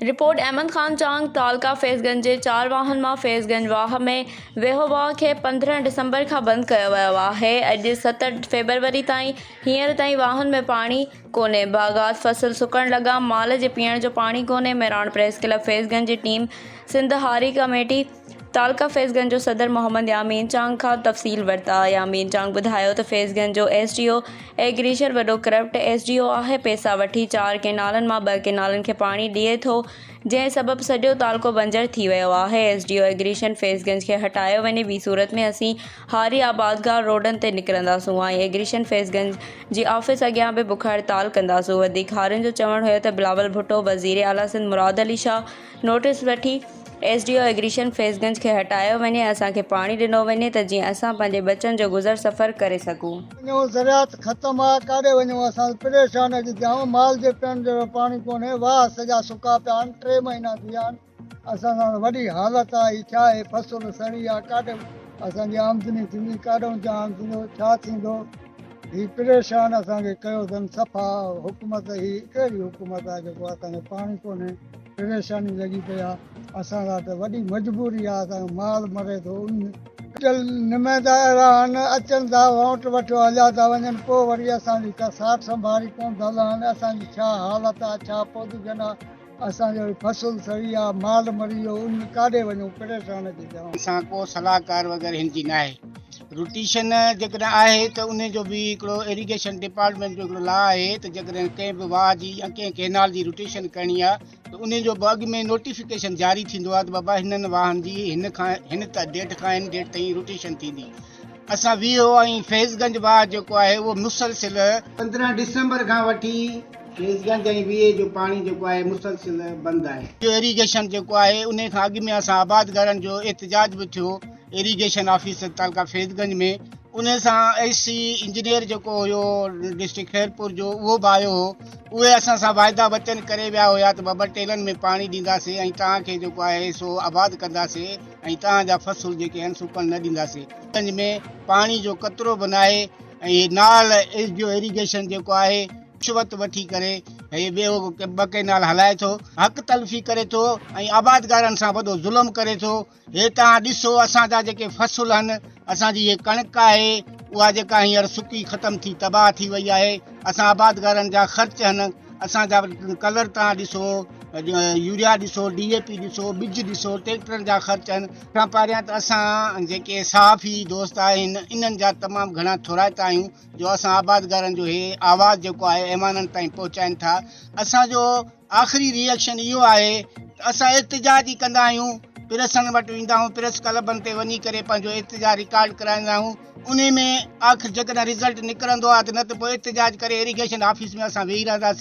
Report, Ahmed Khan Chang, تعلقه فيض گنج جي چار واهن مان فيض گنج واهه ۾ ويهو واهه کي پندرهن ڊسمبر کان بند ڪيو ويو آهي، اڄ ست فيبروري تائين هينئر تائين واهن ۾ پاڻي ڪونهي، باغات فصل سڪڻ لڳا، مال جي پيئڻ جو پاڻي ڪونهي، مهراڻ پريس ڪلب فيض گنج جي ٽيم سنڌ هاري ڪميٽي. تعلقه فيض گنج جو صدر محمد يامين چانگ کان تفصيل ورتا، يامين چانگ ٻڌايو ته فيض گنج جو ايس ڊي او ايگريشر وڏو ڪرپٽ ايس ڊي او آهي، پئسا وٺي چار ڪئنالن مان ٻه ڪئنالن کي پاڻي ڏئي ٿو، جنهن سبب سڄو تعلقو بنجر ٿي ويو آهي، S D O irrigation Faiz Ganj کي هٽايو وڃي ٻي صورت ۾ اسين هاري آبادگار روڊن تي نڪرنداسون ۽ ايگريشن فيض گنج جي آفيس اڳيان به بک هڙتال ڪنداسون، وڌيڪ هارين جو چوڻ هيو ته بلاول ڀٽو، وزير اعليٰ سنڌ مراد علي شاهه، نوٽيس وٺي S D O irrigation Faiz Ganj کي هٽايو وڃي اسان کي پاڻي ڏنو وڃي ته جيئن اسان پنهنجي ٻچن جو گذر سفر ڪري سگهون. وڃون زراعت ختم آ ڪاڏي وڃون اسان پريشان اڄ جام مال جي پيئڻ جهڙو پاڻي ڪونهي واهه سڄا سڪا پيا آهن ٽي مهينا ٿي ويا آهن اسان سان وڏي حالت آ هي ڇا هي فصل سڙي آ ڪاڏي اسان جي آمدني ٿيندي ڪاڏون جهان ٿيندو ڇا ٿيندو هي پريشان اسان کي ڪيو اٿن صفا حڪومت هي ڪهڙي حڪومت آ جيڪو اسان کي پاڻي ڪونهي. پريشاني لڳي پئي آ اسان لاء ته وڏي مجبوري آ اسان جو مال مري ٿو ان. اٽل نمائندا اهڙا آهن اچن ٿا وانٽ وٺيو هليا ٿا وڃن پوء وري اسان جي ڪا ساٺ سنڀاري ڪون ٿا لهن اسان جي ڇا حالت آ ڇا پودگن آ اسان جو هي فصل سڙي آ مال مري ويو ان ڪاڏي وڃون پريشان ڪي جوان. اسان ڪو صلاحڪار وغيره هن جي ناهي روٽيشن جيڪڏهن آهي ته ان جو به هڪڙو ايريگيشن ڊپارٽمينٽ جو هڪڙو لا آهي ته جيڪڏهن ڪنهن به واهه جي يا ڪنهن ڪئنال جي روٽيشن ڪرڻي آهي ته ان جو به اڳ ۾ نوٽيفڪيشن جاري ٿيندو آهي ته بابا هنن واهن جي هن کان هن ڊيٽ کان هن ڊيٽ تائين روٽيشن ٿيندي اسان ويهو ۽ فيض گنج واهه جيڪو آهي اهو مسلسل پندرهن ڊسمبر کان وٺي فيض گنج ۽ ويهه جو پاڻي جيڪو آهي مسلسل بند آهي. ايريگيشن جيڪو آهي ان کان اڳ ۾ اسان آبادگارن جو احتجاج به ٿيو. ايريگيشن آفيسر تعلقه فيض گنج ۾ ان سان اي سي انجنيئر جيڪو هيو ڊسٽرڪٽ خيرپور جو اهو به آيو هو اهي اسان سان واعدا وچن ڪري ويا هيا ته ٻه ٻه ٽيلن ۾ پاڻي ڏينداسين ۽ توهان کي جيڪو آهي سو آباد ڪنداسين ۽ توهان جا فصل جيڪي آهن سوڪڻ نه ڏينداسين گنج ۾ پاڻي جو قطرو به ناهي ۽ نال ايس ڊي او ايريگيشن جيڪو آهي رشوت وٺي ڪري هي ٻيو ٻه ڪئنال هلائي ٿو حق تلفي ڪري ٿو ۽ آبادگارن سان وڏو ظلم ڪري ٿو هي توهان ڏسو اسان جا جيڪي فصل هن اسان جي هي ڪڻڪ آهي اها جيڪا هينئر سڪي ختم ٿي تباهه ٿي وئي آهي اسان آبادگارن جا خرچ هن اسان جا ڪلر توهان ڏسو يوريا ڏسو ڊي اي پي ڏسو ٻج ڏسو ٽيڪٽرن جا خرچ هن کان پهريان ته اسان جيڪي صحافي دوست آهن انهن جا تمام گهڻا ٿورائتا آهيون جو اسان آبادگارن جو هي آواز جيڪو آهي ايوانن تائين پهچائين ٿا اسان جو آخري ري ايڪشن اهو آهي ته اسان احتجاج ئي ڪندا آهيون، پريسن وٽ ويندا آهيون، پريس ڪلبن تي وڃي ڪري پنهنجو احتجاج رڪارڊ ڪرائيندا آهيون، انهي ۾ آخر جيڪڏهن رزلٽ نڪرندو آهي ته نه ته پوء احتجاج ڪري ايريگيشن آفيس ۾ اسان ويهي رهنداسين.